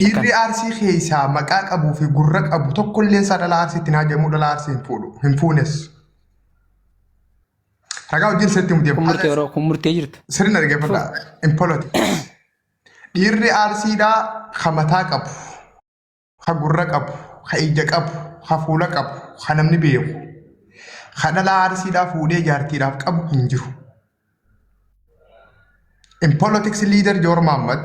Dhiirri Arsii keessaa maqaa qabuu fi gurra qabu tokkolleen isaa dhalaa Arsiitti hin haajamuu, dhalaa Arsii hin fuudhu, hin fuunes. Ragaa wajjin sirriitti mudee Kun murtee yeroo kun murtee jirta. sirriin argeeffadha. In politics. Dhiirri Arsiidhaa ka mataa qabu, ka gurra qabu, ka ija qabu, ka fuula qabu, ka namni beeku, ka dhalaa Arsiidhaa fuudhee jaartiidhaaf qabu hin jiru. In politics leader Joor Maammat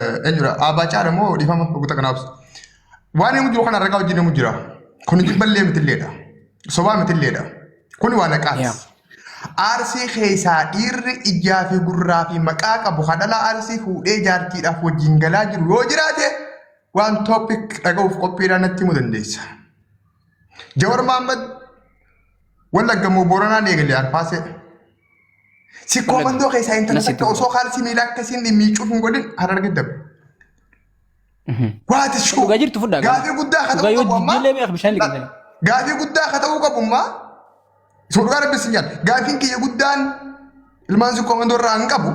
Eenyudha? Abbaa caala moo dhiifama oguta kanaaf. Waan inni jiru kana ragaa wajjin inni jira. Kun jibballee mitilleedha. Sobaa mitilleedha. Kun waan haqaati. Yeah. Arsii keessaa dhiirri ijaa fi gurraa fi maqaa qabu hadhala arsii fuudhee jaartiidhaaf wajjin galaa jiru yoo jiraate waan topic dhaga'uuf qophiidhaan natti himuu dandeessa. Jawar Mahammad wallaggamoo Booranaan eegalee arfaasee. Sikkoo Laga. mandoo keessaa intala Nasitti takka osoo kaalsii miilaa akkasiin miicuuf hin godhin hararge dabre. Waati shuu. Dhugaa jirtu fudhaa gaafii. Gaafii guddaa akka Dhugaa ta'uu yoo qabu ammaa. jijjiirlee mi'a bishaan liqimsan. Gaafii guddaa akka ta'uu qabu ammaa. Isa dhugaa rabbi sin jedha. Gaafiin kiyya guddaan ilmaan sikkoo mandoo irraa hin qabu.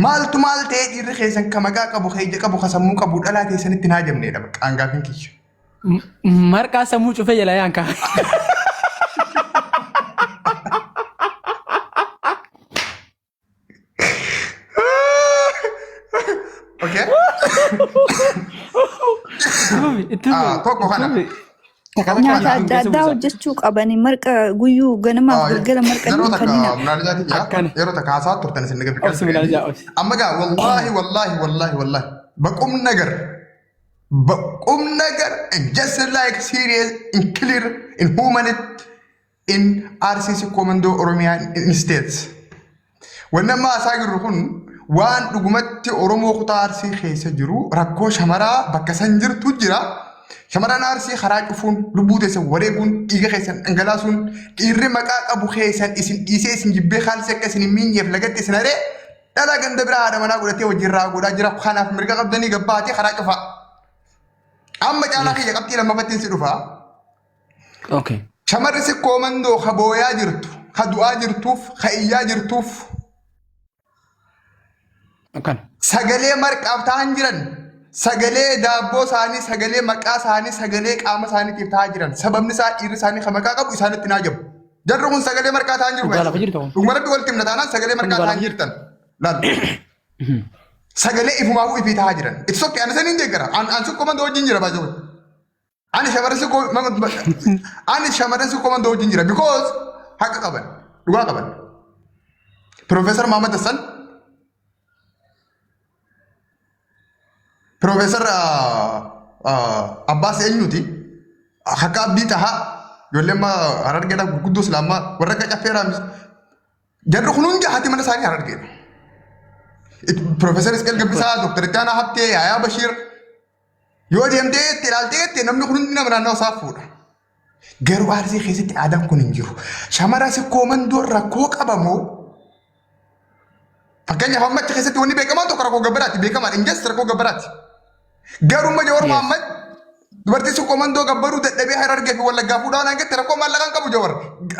Maaltu maal ta'ee dhiirri keessan ka maqaa qabu, ka ija qabu, ka sammuu qabu dhalaa keessanitti hin haajamneedha bakka aangaafin kiyya. M- Marqaa sammuu cufee jala yaan kaa. Okay? Itti fufi, itti Ah, fufi, tokko itti kana. fufi. Takka takka Nyaata adda addaa hojjechuu qabani. Marqa guyyuu ganamaaf galgala marqa yeroo hin takka kennina. minaalizaatiin jira Akkana. yeroo takka haasaa turtan isin naga Obsi minaalizaa, obsi. amma gaa wallaahi wallaahi wallaahi wallaahi baqum nagar baqum nagar and just like serious in clear in humanity in Arsii Sikkoo Mandoo Oromiyaa in States. Wanni amma haasaa jirru kun waan dhugumatti Oromoo kutaa Arsii keessa jiru rakkoo shamaraa bakka san jirtu jira. Shamarran Arsii karaa cufuun lubbuu teessan wareeguun dhiiga keessan dhangalaasuun dhiirri maqaa qabu keessan isin dhiisee isin jibbee kaalsee akka isin hin miinyeef lagatti isin haree dhala ganda biraa haadha manaa godhatee wajjin raa godhaa jira kanaaf mirga qabdanii gabbaatee karaa cufaa. Amma caalaa kiyya qabxii lammaffattiin si dhufaa. Okay. Shamarri sikkoo mandoo ka booyaa jirtu, ka du'aa jirtuuf, ka iyyaa jirtuuf Akkana. sagalee marqaaf ta'an jiran, sagalee daabboo isaanii, sagalee maqaa isaanii, sagalee qaama isaaniitiif ta'aa jiran. Sababni isaa dhiirri isaanii ka maqaa qabu isaanitti naa jabu. Jarri kun sagalee marqaa ta'an jiru. Dhugaa lafa jirtu kun. Dhuguma rabbi walitti himna taanaan sagalee marqaa Dhugaa ta'an lafa jirtan. Laal. Sagalee ifumaafuu ifii ta'aa jiran. Itti sokkee ani saniin deeggara. An an sikkoo mandoo wajjin jira baay'ee. Ani shamarran sikkoo ani shamarran sikkoo mandoo wajjin jira because haqa qaban dhugaa qaban. Piroofeesar Maamad Hassan Piroofeesar Abbaas eenyuti haqa abdii tahaa ijoollee amma harargeedha gurguddoo islaamaa warra akka caffeeraa miti. Jarri kun hundi haati mana isaanii harargeedha. Piroofeesar Isqeel Gabbisaa, Dooktar Ittaanaa Habtee, Yaayaa Bashiir Yoo deemtee itti ilaaltee itti namni kun hundi nama naannoo isaa fuudha. Garuu arsii keessatti aadaan kun hin jiru. Shamara sikkoo mandoo rakkoo qabamoo fakkeenyaaf amma achi keessatti wanni beekamaan tokko rakkoo gabbaraati beekamaan injas rakkoo gabbaraati. Garuu amma Jawar Yes. Mahammad dubartii sikkoo mandoo gabbaruu dadhabee harargee fi wallaggaa fuudhaa waan argatte rakkoo maallaqaan qabu Jawar.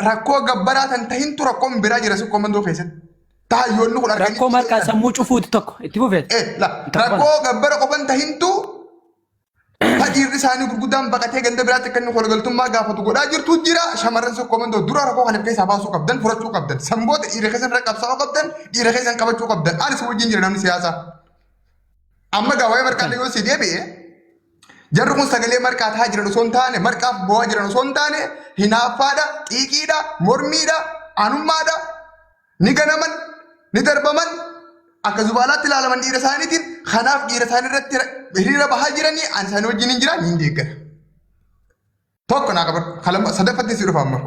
Rakkoo gabbaraa kan tahintu rakkoon biraa jira sikkoo mandoo keessatti. Taayyoonni kun arganii. Rakkoo marqaa sammuu cufuuti tokko itti fufeet. Eh, la, rakkoo gabbara qofan tahintu ta dhiirri isaanii gurguddaan baqatee ganda biraatti akka inni kolgaltummaa gaafatu godhaa jirtu jira shamarran sun komandoo dura rakkoo kana keessaa baasuu qabdan furachuu qabdan sanboota dhiira keessan irra qabsaa'uu qabdan dhiira keessan qabachuu qabdan ani si wajjin jira namni siyaasaa amma gaa waa'ee marqaa yoo si deebi'e jarri kun sagalee marqaa tahaa jiran osoo hin taane marqaaf boo'aa jiran osoo hin taane hinaaffaadha xiiqiidha mormiidha anummaadha Ni ganaman, ni darbaman, akka zubaalaatti ilaalaman dhiira isaaniitiin. Kanaaf dhiira isaanii irratti hiriira bahaa jiranii ani isaanii wajjin hin jiraan hin deeggara. Tokko naa qabadhu. Kalama sadaffatti si dhufa amma.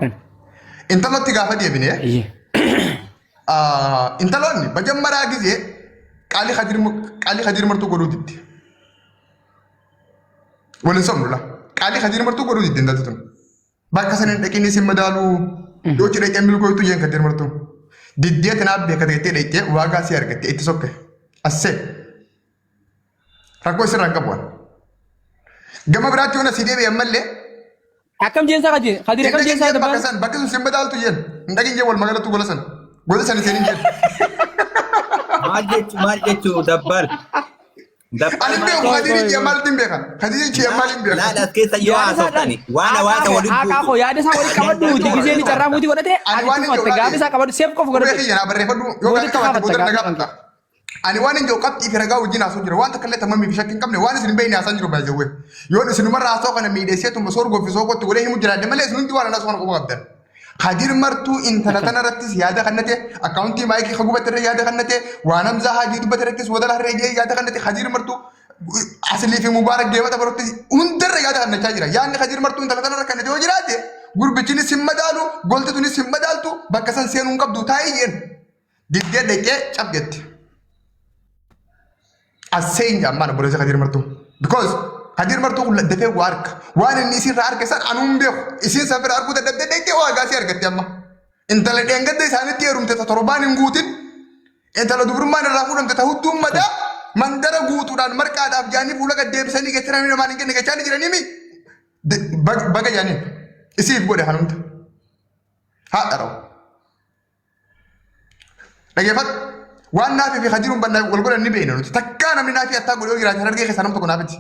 Intalootti gaafa deebine Iyyee. ah, intaloonni bajammaraa gisee qaalii kadir qaalii kadir martuu godhuu didde. Waliin somnula. Qaalii kadir martuu godhuu didde intalti tun. Bakka sana hin dhaqinis hin madaalu. Yoo itti dhaqee milkooytu jeen kan dirmartu. Diddee tanaaf beeka ta'ettee dhaqxee waagaa si argatte itti sokke. Assee. Rakkoo isirraa hin qabu. Gama biraatti yoo na si deebi'e ammallee Akkam jeensaa kaje kadir akkam jeensaa Bakka dabbaan. san bakka sun simba daaltu jeen. Hin dhagin jeen wal magaalatu gola san. Gola san hin seenin jeen. Maal jechu maal jechu dabbal. Ani beeku Khadija ishee maaliin beeka? Khadija ishee maaliin beeka? Laala as keessa yoo haasofani waan hawaasa waliin Haqaa koo yaada isaa waliin qabadhu uti gisee ni carraa muutii godhate Ani ati waan hin tufatte gaafa isaa qabadhu seef qofa Qubee godhate. kiyya naa barreeffadhu yoo Booda gaaffii qabaatte booda na gaafatta, gaafadha. Ani waan hin jiru qabxii fi ragaa wajjin haasoo jira. Waan takka illee tammamii fi shakkii hin qabne waan isin hin beekne haasaan jiru baay'eewwe. Yoon isinumarra haasoo kana miidheessee tumma soor goofisoo kootti godhee himu jiraadde malee isin hundi waan haasoo kana qofa qabdan. Kadir martuu intala tana irrattis yaada kannate akkaawuntii maayikii ka gubate irra yaada kannate waan hamzaa haajii dubbate irrattis wadala harree jee yaada kannate Kadir martuu asilii fi mubaarak deebata barottis hundarra yaada kannachaa jira. Yaadni Kadir martuu intala tana irra kannate yoo jiraate gurbichinis hin madaalu golti tunis hin madaaltu bakka san seenuu hin qabdu taa'ii jeen. Didde dhaqee cap jette. Asseen jaammaan obboleessa Kadir Martuu. Because Kadir Martuu kun dafee waa arka. Waan inni isiirraa arke san anuun beeku. Isiin san bira arguu dadhabdee dhaqee waa gaasii argatte amma. Intala dheengadda isaanitti heerumte ta torbaan hin guutin. Intala dubrummaan irraa fuudhamte ta hudduun madaa mandara guutuudhaan marqaadhaaf jaanii fuula gad deebisanii gacharanii namaan hin kenne gachaanii jiranii mi? De- bag- Baga jaaniin isiif godhe hanumta. Haadha rawu. Dhaggeeffadhu. Waan naafii fi kajiruun bal'aa wal godhan ni beekna nuti. Takkaa namni naafii attaa godhee yoo jiraate harargee keessaa nam tokko naafiti.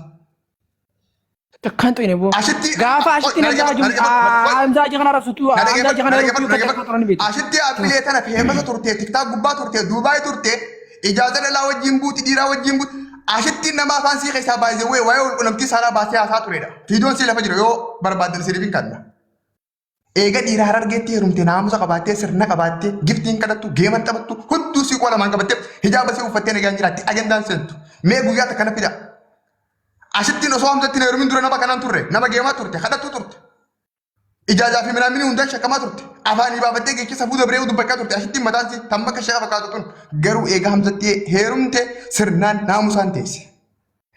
Takkaan xine boo. Ashitti- Gaafa ashitti Dhaggeeffadhu, namjaa jiru. dhaggeeffadhu, qoy. Amjaa jee kana rabsutu. Na Amjaa jee dhaggeeffadhu, kana na rabsutu. dhaggeeffadhu, Takkaan xine dhaggeeffadhu. beektu. Ashitti dhaabbilee tana feemasa turte, tiktaa gubbaa turte, Duubaay turte, ijaaza dhalaa wajjin buuti, dhiiraa wajjin buuti. Ashitti nama afaan sii keessaa baay'isee wee waa'ee walqunnamtii saalaa baasee haasaa turedha. Fiidoon sii lafa jira yoo barbaaddan siif hin kanna. Eega dhiira harargeetti heerumte naamusa qabaattee sirna qabaattee giftiin kadhattu geeman taphattu hudduu siiqoo lamaan qabattee hijaaba sii uffattee nagaan jiraatti ajandaan seentu mee guyyaa takka naffi da'a. Asittiin osoo hamzatti na heerumin dura nama kanaan turre nama geemaa turte kadhattuu turte. Ijaajaa fi minaamini hundaan shakkamaa turte. Afaanii baafattee geecha safuu dabree dubbachaa turte asittiin mataan si tamma akka shaqa fakkaatu tun garuu eega hamzatti heerumte sirnaan naamusaan teesse.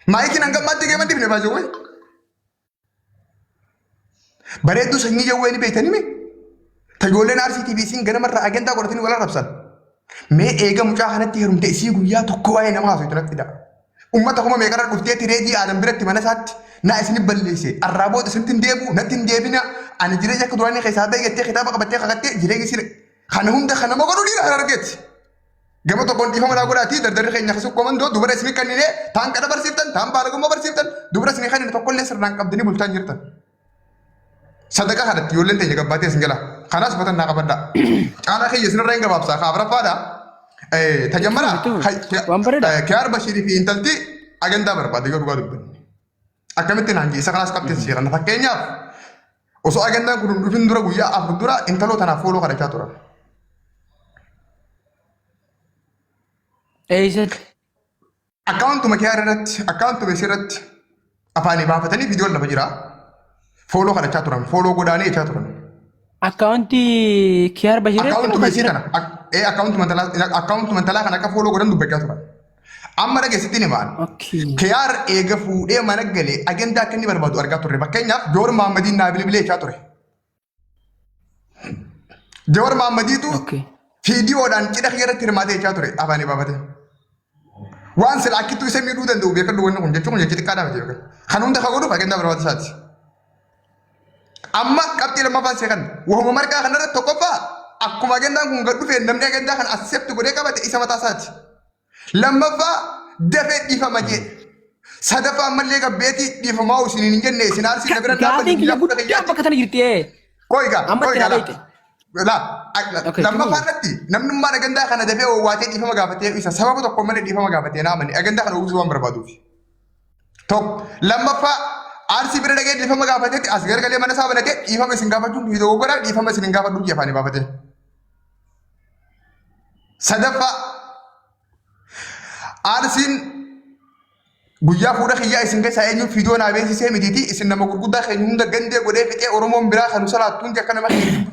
Maayikiin hanga ammaatti geeman dibne baajawwee. Bareedduu sanyii jawwee ni beektanii mee? Tajoolleen RCTV isiin ganamarraa agendaa godhatanii wal arrabsan. Mee eega mucaa kanatti heerumte isii guyyaa tokko waa'ee nama haasoo itti natti da'a. Uummata kuma meeqarra dhufteetti reedii aadan biratti mana isaatti naa isin balleesse arraa booda isinitti hin deebi'u natti hin deebina ani jireenya akka duraanii keessaa baay'attee kitaaba qabattee kakattee jireenya isii kana hunda kana mogodhuu dhiira kan argeeti. Gama tokkoon dhiifama naa godhaatii dardarri keenya akka sukkoomandoo dubara isin kennine taan qada barsiiftan taan baalagummaa barsiiftan dubara isin kennine tokkollee sirnaan qabdanii bulchaan jirtan. Sadaqaa kanatti ijoolleen teenya gabbaatee isin jala kanaas uffatan naa qabadhaa. Caalaa keenya isinirra hin gabaabsaa kaa afraffaadha. Tajammara Waan bareedaa. kiyaar bashiirii fi intalti agandaa barbaade yoo dhugaa dubbanne. Akkamitti naan jee isa kanaas qabxee si jedhan fakkeenyaaf Osoo agannaan kun hin dhufin dura guyyaa afur dura intaloo tanaaf fooloo kadhachaa turan. Eeysatti. Akkaawuntuma kee irratti akkaawuntuma isii irratti afaanii baafatanii viidiyoon lafa jira. Fooloo kadhachaa turan fooloo godhaanii jechaa turan. Akkaawuntii Kiyaar Bashir. Akkaawuntuma isii kana ak- ee, akkaawuntuma intalaa akkaawuntuma intalaa kana akka fooloo godhan dubbachaa turan. Amma dhage sittin himaan. Okay. Kiyaar eega fuudhee mana galee ajandaa akka inni barbaadu argaa turre. Fakkeenyaaf Joor Maammadiin naa bilbilee jechaa ture. Joor Maammadiitu Okay. fiidiyoodhaan cidha kiyya irratti hirmaatee jechaa ture afaan ibaabate. Waan sila akkittuu isa miidhuu danda'u beekadhu wanni kun jechuun kun jechi xiqqaa dhaabate yookaan. Kan hunda kan godhuuf ajandaa barbaachisaati. Amma qabxii lammaffaan see kan wahuma marqaa kanarratti tokkoffaa akkuma ajandaan kun gad dhufeen namni ajandaa kana accept godhee qabate isa mataa isaati. Lammaffaa dafee dhiifama jee. Sadaffaa ammallee gabbeetii dhiifamaa isin hin jenne isin aarsiin na bira hin dhaabbanne Gaafiin kiyya biyya fuudha guddaa kiyyaatti. bakka sana jirti ee. Koiga, Amma koiga tira la. beekte. La, ak- Okay, lammaffaa tira irratti namni ummaan agandaa kana dafee owwaatee dhiifama gaafatee isa sababa tokko malee dhiifama gaafatee naamani agandaa kana uwwisuu waan barbaaduuf. Tokko. Lammaffaa arsii bira dhagee dhiifama gaafatetti as gargalee mana isaa banatee dhiifama isin gaafachuun dhiisoo goggoraa dhiifama isin hin gaafadhu biyya afaanii baafatee. Sadaffaa arsiin guyyaa fuudha kiyyaa isin keessaa eenyuun fiidoo naa beeksisee mitiitii isin nama gurguddaa keenya hunda gandee godhee fixee Oromoon biraa kan salaattuun akka nama keenya